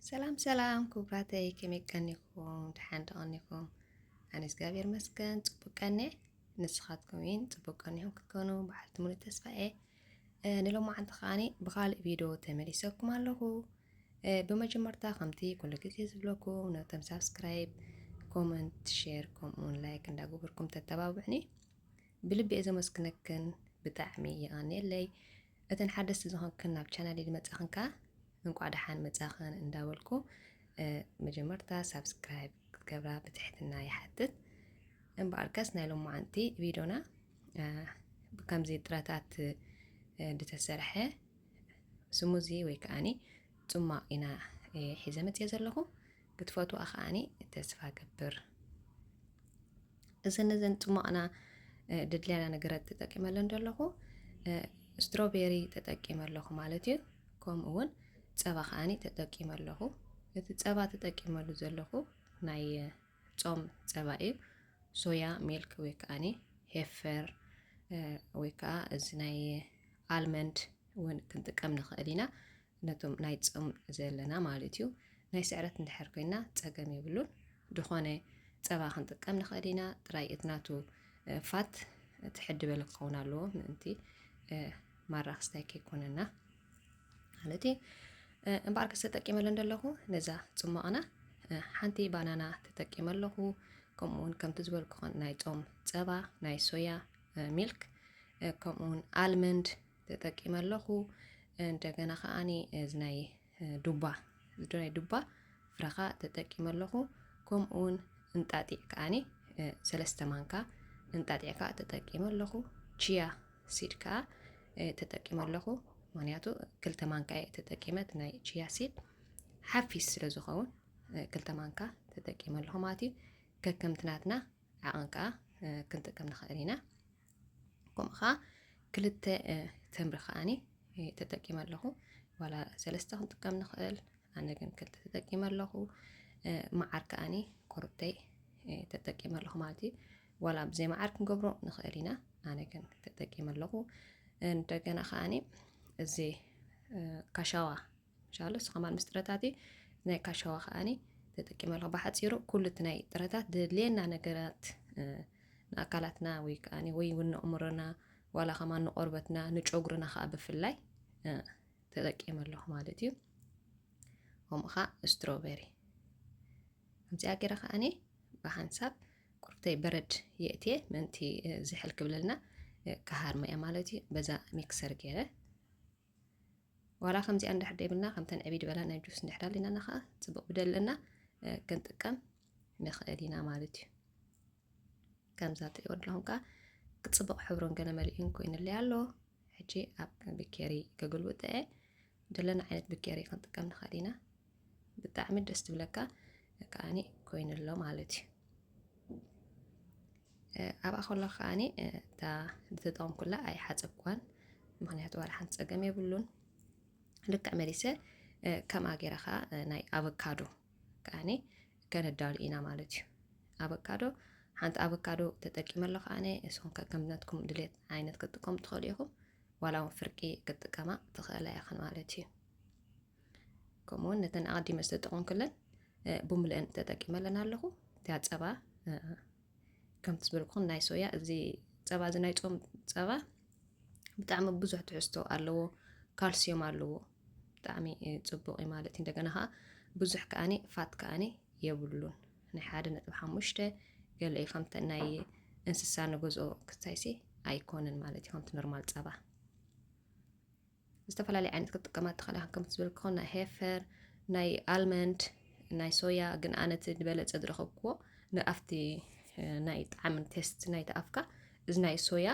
ሰላም ሰላም ክቡራተይ ከመይ ቀኒኹም ድሓን ተቐኒኹም ኣነ እግዚኣብሔር መስገን ፅቡቅ ቀኒ ንስኻትኩም እውን ፅቡቅ ቀኒኹም ክትኮኑ በዓልቲ ሙሉ ተስፋ እየ ንሎማዓንቲ ከዓኒ ብካልእ ቪድዮ ተመሊሰኩም ኣለኹ ብመጀመርታ ከምቲ ኩሉ ግዜ ዝብለኩም ነቶም ሳብስክራይብ ኮመንት ሼር ከምኡውን ላይክ እንዳገበርኩም ተተባብዕኒ ብልቢ እየ ዘመስግነክን ብጣዕሚ የቐኒየለይ እተን ሓደስቲ ዝኾንክን ናብ ቻናለይ ዝመጻኽን ከኣ እንቋዕ ደሓን መጻኽን እንዳበልኩ መጀመርታ ሳብስክራይብ ክትገብራ ብትሕትና ይሓትት። እምበኣርከስ ናይ ሎማዓንቲ ቪድዮና ከምዚ ጥረታት ዝተሰርሐ ስሙዚ ወይ ከዓኒ ጽማቕ ኢና ሒዘ መጽየ ዘለኹ። ክትፈትዋ ከዓኒ ተስፋ ገብር እዘን ነዘን ፅሟቕና ድድልያና ነገራት ተጠቂመ ኣለን ዘለኹ ስትሮቤሪ ተጠቂመ ኣለኹ ማለት እዩ ከምኡ እውን ፀባ ከዓኒ ተጠቂመ ኣለኹ እቲ ፀባ ተጠቂመሉ ዘለኹ ናይ ፆም ፀባ እዩ ሶያ ሚልክ ወይ ከዓኒ ሄፈር ወይ ከዓ እዚ ናይ ኣልመንድ እውን ክንጥቀም ንኽእል ኢና ነቶም ናይ ጾም ዘለና ማለት እዩ ናይ ስዕረት እንድሕር ኮይና ጸገም የብሉን ድኾነ ጸባ ክንጥቀም ንኽእል ኢና ጥራይ እቲ ናቱ ፋት ትሕዲ በለ ክኸውን ኣለዎ ምእንቲ ማራ ክስታይ ከይኮነና ማለት እዩ እምበኣር ከስ ተጠቂመለ እንደለኹ ነዛ ጽሟቕና ሓንቲ ባናና ተጠቂመ ኣለኹ ከምኡ ውን ከምቲ ዝበልኩ ናይ ጾም ጸባ ናይ ሶያ ሚልክ ከምኡ ውን ኣልመንድ ተጠቂመ ኣለኹ እንደገና ከዓኒ እዚ ናይ ዱባ እዚ ናይ ዱባ ፍረ ከዓ ተጠቂመ ኣለኹ ከምኡ እውን እንጣጢዕ ከዓኒ ሰለስተ ማንካ እንጣጢዕ ከዓ ተጠቂመ ኣለኹ ቺያ ሲድ ከዓ ተጠቂመ ኣለኹ ምክንያቱ ክልተ ማንካ እየ ተጠቂመት ናይ ቺያ ሲድ ሓፊስ ስለ ዝኸውን ክልተ ማንካ ተጠቂመ ኣለኹ ማለት እዩ ከከምትናትና ዓቐን ከዓ ክንጥቀም ንኽእል ኢና ከምኡ ከዓ ክልተ ተምሪ ከዓኒ ተጠቂመ ኣለኹ ዋላ ሰለስተ ክንጥቀም ንኽእል ኣነ ግን ክልተ ተጠቂመ ኣለኹ መዓር ከዓኒ ኮርብተይ ተጠቂመ ኣለኹ ማለት እዩ ዋላ ብዘይ መዓር ክንገብሮ ንኽእል ኢና ኣነ ግን ተጠቂመ ኣለኹ እንደገና ከዓኒ እዚ ካሻዋ ሻሎ ስኸማን ምስ ጥረታቲ ናይ ካሻዋ ከኣኒ ተጠቂመ ኣለኹ ብሓፂሩ ኩሉ እቲ ናይ ጥረታት ድድልየና ነገራት ንኣካላትና ወይ ከኣኒ ወይ እውን ንእምሮና ዋላ ከማ ንቆርበትና ንጨጉርና ከዓ ብፍላይ ተጠቂመ ኣለኹ ማለት እዩ ከምኡ ከዓ ስትሮበሪ ከምዚኣ ገይረ ከኣኒ ብሓንሳብ ቁርብተይ በረድ የእትየ ምእንቲ ዝሕል ክብለልና ክሃርመ እያ ማለት እዩ በዛ ሚክሰር ገይረ ዋላ ከምዚኣ እንድሕር ደይብልና ከምተን ዕብይ ድበላ ናይ ጁስ እንድሕር ኣለናና ከዓ ፅቡቅ ብደለና ክንጥቀም ንኽእል ኢና ማለት እዩ ከምዛ ትሪእዎ ኣለኹም ከዓ ክፅቡቅ ሕብሩን ገለ መሊኡን ኮይኑለይ ኣሎ ሕጂ ኣብ ብኬሪ ከገልብጠ ደለና ዓይነት ብኬሪ ክንጥቀም ንኽእል ኢና ብጣዕሚ ደስ ትብለካ ከዓኒ ኮይኑ ኣሎ ማለት እዩ ኣብኣ ከሎ ከዓኒ እታ ዝተጠቐምኩላ ኣይሓፀብኳን ምክንያቱ ዋላ ሓንቲ ፀገም የብሉን ልክዕ መሊሰ ከምኣ ገይረ ከዓ ናይ ኣቨካዶ ከዓኒ ከነዳሉ ኢና ማለት እዩ ኣቨካዶ ሓንቲ ኣቨካዶ ተጠቂመ ኣሎ ከዓኒ እሱም ከምነትኩም ድሌት ዓይነት ክትጥቀሙ ትኽእሉ ኢኹም ዋላ እውን ፍርቂ ክትጥቀማ ትኽእላ ኢኽን ማለት እዩ ከምኡውን ነተን ኣቐዲመ ዝተጠቐምኩለን ብምልአን ተጠቂመለን ኣለኹ እቲያ ፀባ ከምቲ ዝበልኩኹም ናይ ሶያ እዚ ፀባ እዚ ናይ ፆም ፀባ ብጣዕሚ ብዙሕ ትሕዝቶ ኣለዎ ካልሲዮም ኣለዎ ብጣዕሚ ፅቡቅ እዩ ማለት እዩ እንደገና ከዓ ብዙሕ ከዓኒ ፋት ከዓኒ የብሉን ናይ ሓደ ነጥቢ ሓሙሽተ ገለ እዩ ከምተ ናይ እንስሳ ንገዝኦ ክሳይሲ ኣይኮነን ማለት እዩ ከምቲ ኖርማል ፀባ ዝተፈላለየ ዓይነት ክትጥቀማ ትኽእላ ከም ዝበልክኹ ናይ ሄፈር ናይ ኣልመንድ ናይ ሶያ ግን ኣነ እቲ ዝበለፀ ዝረኸብክዎ ንኣብቲ ናይ ጣዕሚ ቴስት ናይቲ ኣፍካ እዚ ናይ ሶያ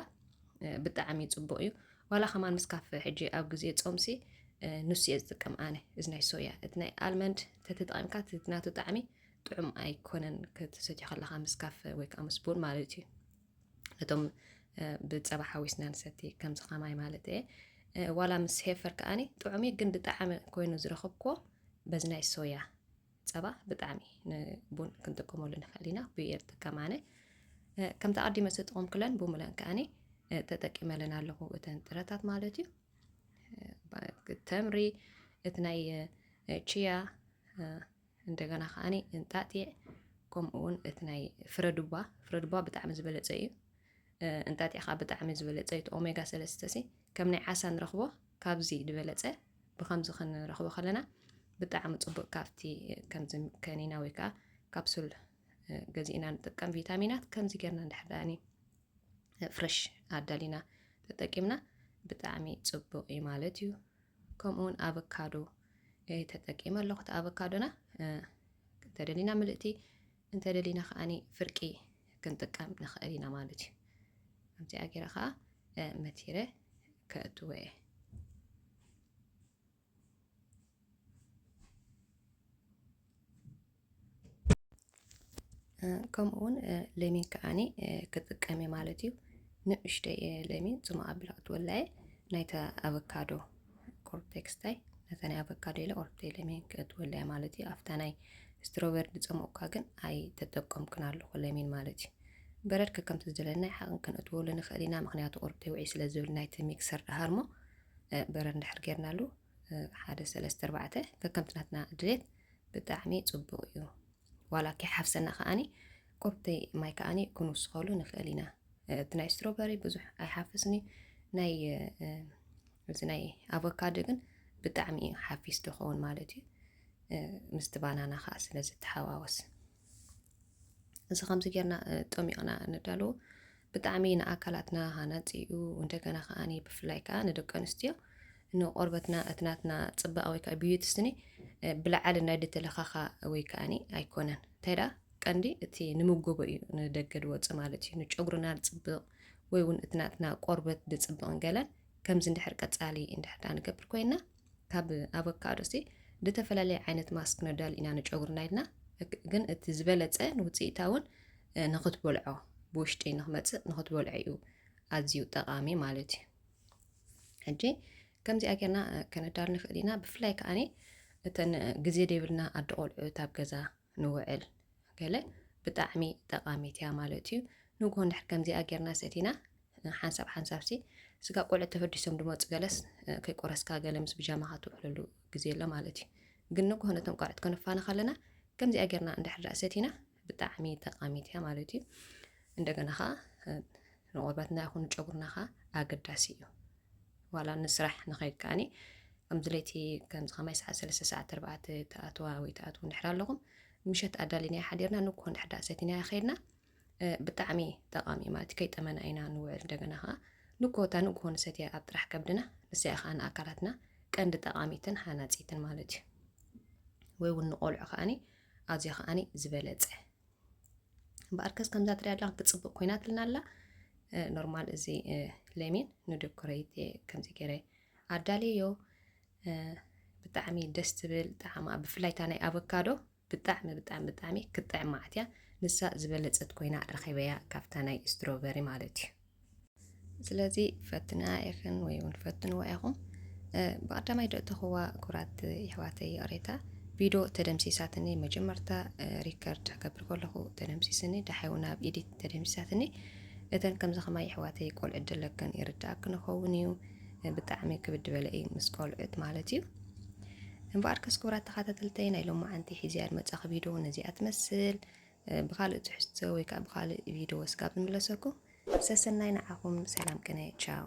ብጣዕሚ ፅቡቅ እዩ ዋላ ከማን ምስ ካፈ ሕጂ ኣብ ግዜ ፆምሲ ንሱ እየ ዝጥቀም ኣነ እዚ ናይ ሶያ እቲ ናይ ኣልመንድ ተተጠቂምካ ናቱ ጣዕሚ ጥዑም ኣይኮነን ክትሰትዮ ከለካ ምስ ካፈ ወይ ከዓ ምስ ቡን ማለት እዩ ነቶም ብፀባ ሓዊስና ንሰቲ ከምዚ ከማይ ማለት እየ ዋላ ምስ ሄፈር ከዓኒ ጥዑም ግን ብጣዕሚ ኮይኑ ዝረኸብኩዎ በዚ ናይ ሶያ ፀባ ብጣዕሚ ንቡን ክንጥቀመሉ ንኽእል ኢና ብኡ እየ ዝጥቀም ኣነ ከምቲ ኣዲመ ዝጠቐምኩለን ብሙለን ከዓኒ ተጠቂመለን ኣለኹ እተን ጥረታት ማለት እዩ ተምሪ እቲ ናይ ቺያ እንደገና ከኣ እንጣጢዕ ከምኡ ውን እቲ ናይ ፍረዱባ ፍረዱባ ብጣዕሚ ዝበለጸ እዩ እንጣጢዕ ከኣ ብጣዕሚ ዝበለጸ እዩ ኦሜጋ ሰለስተ ሲ ከም ናይ ዓሳ ንረኽቦ ካብዚ ዝበለጸ ብከምዚ ክንረኽቦ ከለና ብጣዕሚ ጽቡቅ ካብቲ ከምዚ ከኒና ወይ ከዓ ካፕሱል ገዚእና ንጥቀም ቪታሚናት ከምዚ ጌርና እንድሕዳኒ ፍረሽ ኣዳሊና ተጠቂምና ብጣዕሚ ጽቡቅ እዩ ማለት እዩ ከምኡውን ኣቨካዶ ተጠቂመ ኣለኹ እቲ ኣቮካዶና እንተደሊና ምልእቲ እንተደሊና ከዓኒ ፍርቂ ክንጥቀም ንኽእል ኢና ማለት እዩ ከምዚኣ ገይረ ከዓ መቲረ ከእትወ እየ ከምኡ እውን ለሚን ከዓኒ ክጥቀም እየ ማለት እዩ ንእሽተይ ለሚን ፅማቅ ኣቢላ ክትወልዐ ናይታ ኣቨካዶ ኮርቴክስታይ ነታ ናይ ኣቨካዶ ኢለ ኦርተይ ለሚን ክትወልዐ ማለት እዩ ኣብታ ናይ ስትሮበሪ ዝፀመቑካ ግን ኣይተጠቀምኩን ኣለኹ ለሚን ማለት እዩ በረድ ከከምቲ ዝደለና ሓቕን ክንእትወሉ ንኽእል ኢና ምክንያቱ ቁርብቲ ውዒ ስለ ዝብል ናይቲ ሚክሰር ድሃርሞ በረድ እንድሕር ጌርናሉ ሓደ ሰለስተ ኣርባዕተ ከከምቲ ናትና ድሌት ብጣዕሚ ጽቡቕ እዩ ዋላ ከይሓፍሰና ከኣኒ ቁርቲ ማይ ከኣኒ ክንውስኸሉ ንኽእል ኢና እቲ ናይ ስትሮበሪ ብዙሕ ኣይሓፍስን እዩ ናይ እዚ ናይ ኣቮካዶ ግን ብጣዕሚ እዩ ሓፊስ ድኸውን ማለት እዩ ምስቲ ባናና ከዓ ስለ ዝተሓዋወስ እዚ ከምዚ ጌርና ጠሚቕና ንዳሎ ብጣዕሚ ንኣካላትና ሃናፂ እዩ። እንደገና ከዓ ብፍላይ ከዓ ንደቂ ኣንስትዮ ንቆርበትና እቲ ናትና ፅባቐ ወይ ከዓ ብዩቲ ስኒ ብላዕሊ ናይ ድተለኻኻ ወይ ከዓኒ ኣይኮነን እንታይ ደኣ ቀንዲ እቲ ንምጎቦ እዩ ንደገ ድወፅእ ማለት እዩ ንጨጉርና ዝፅብቕ ወይ እውን እቲ ናትና ቆርበት ድፅብቕን ገለን ከምዚ እንድሕር ቀፃሊ እንድሕር ንገብር ኮይና ካብ ኣቮካዶሲ ዝተፈላለየ ዓይነት ማስክ ነዳሉ ኢና ንጨጉርና ኢልና ግን እቲ ዝበለፀ ንውፅኢታውን ንክትበልዖ ብውሽጢ ንክመፅእ ንክትበልዖ እዩ ኣዝዩ ጠቃሚ ማለት እዩ ሕጂ ከምዚኣ ጌርና ከነዳሉ ንኽእል ኢና ብፍላይ ከዓኒ እተን ግዜ ዘይብልና ኣደ ቆልዑት ኣብ ገዛ ንውዕል ገለ ብጣዕሚ ጠቃሚት እያ ማለት እዩ ንግሆ እንድሕር ከምዚኣ ጌርና ሰቲና ሓንሳብ ሓንሳብ ሲ ስጋ ቆልዑት ተፈዲሶም ድመፁ ገለስ ከይቆረስካ ገለ ምስ ብጃማኻ ትውዕለሉ ግዜ ኣሎ ማለት እዩ ግን ንግሆ ነቶም ቆልዑት ከነፋና ከለና ከምዚኣ ጌርና እንድሕር ሰቲና ብጣዕሚ ጠቃሚት እያ ማለት እዩ እንደገና ከዓ ንቆርበትና ይኹን ጨጉርና ከዓ ኣገዳሲ እዩ ዋላ ንስራሕ ንኸይድ ከዓኒ ከምዚ ለይቲ ከምዚ ከማይ ሰዓት ሰለስተ ሰዓት ተርባዕተ ተኣትዋ ወይ ተኣትዉ እንድሕር ኣለኹም ምሸት ኣዳሊናዮ ሓዲርና ንግሆ እንድሕር ዳኣ ሰቲናዮ ከይድና ብጣዕሚ ጠቓሚ እዩ ማለት ከይጠመና ኢና ንውዕል እንደገና ከዓ ንግሆታ ንግሆ ንሰትያ ኣብ ጥራሕ ከብድና ንስያ ከዓ ንኣካላትና ቀንዲ ጠቓሚትን ሃናፂትን ማለት እዩ ወይ እውን ንቆልዑ ከዓኒ ኣዝዮ ከዓኒ ዝበለፀ እምበኣርከስ ከምዛ ትሪያ ኣላ ክትፅብቕ ኮይናትልና ኣላ ኖርማል እዚ ለሚን ንደኮረይት ከምዚ ገይረ ኣዳልዮ ብጣዕሚ ደስ ትብል ጣዕማ ብፍላይ እታ ናይ ኣቮካዶ ብጣዕሚ ብጣዕሚ ብጣዕሚ ክትጥዕም መዓት እያ ንሳ ዝበለፀት ኮይና ረኺበያ ካብታ ናይ ስትሮበሪ ማለት እዩ ስለዚ ፈትንኣ ኢኽን ወይ እውን ፈትንዋ ኢኹም። ብቐዳማይ ዶ እተኽዋ ኩራት ይሕዋተይ ይቕሬታ ቪድዮ ተደምሲሳትኒ መጀመርታ ሪከርድ ከብር ከለኹ ተደምሲስኒ ዳሓይ እውን ኣብ ኢዲት ተደምሲሳትኒ እተን ከምዚ ከማይ ይሕዋተይ ቆልዑ ደለክን ይርዳእክ ንኸውን እዩ ብጣዕሚ ክብድ በለ እዩ ምስ ቆልዑት ማለት እዩ እምበኣር ከስ ክብራት ተኸታተልተይ ናይ ሎማዓንቲ ሒዝያ ዝመፃኺ ቪድዮ ነዚኣ ትመስል ብኻልእ ትሕዝቶ ወይ ከኣ ብኻልእ ቪድዮ እስካብ ዝምለሰኩም ሰሰናይ ንዓኹም ሰላም ቅነ ቻው።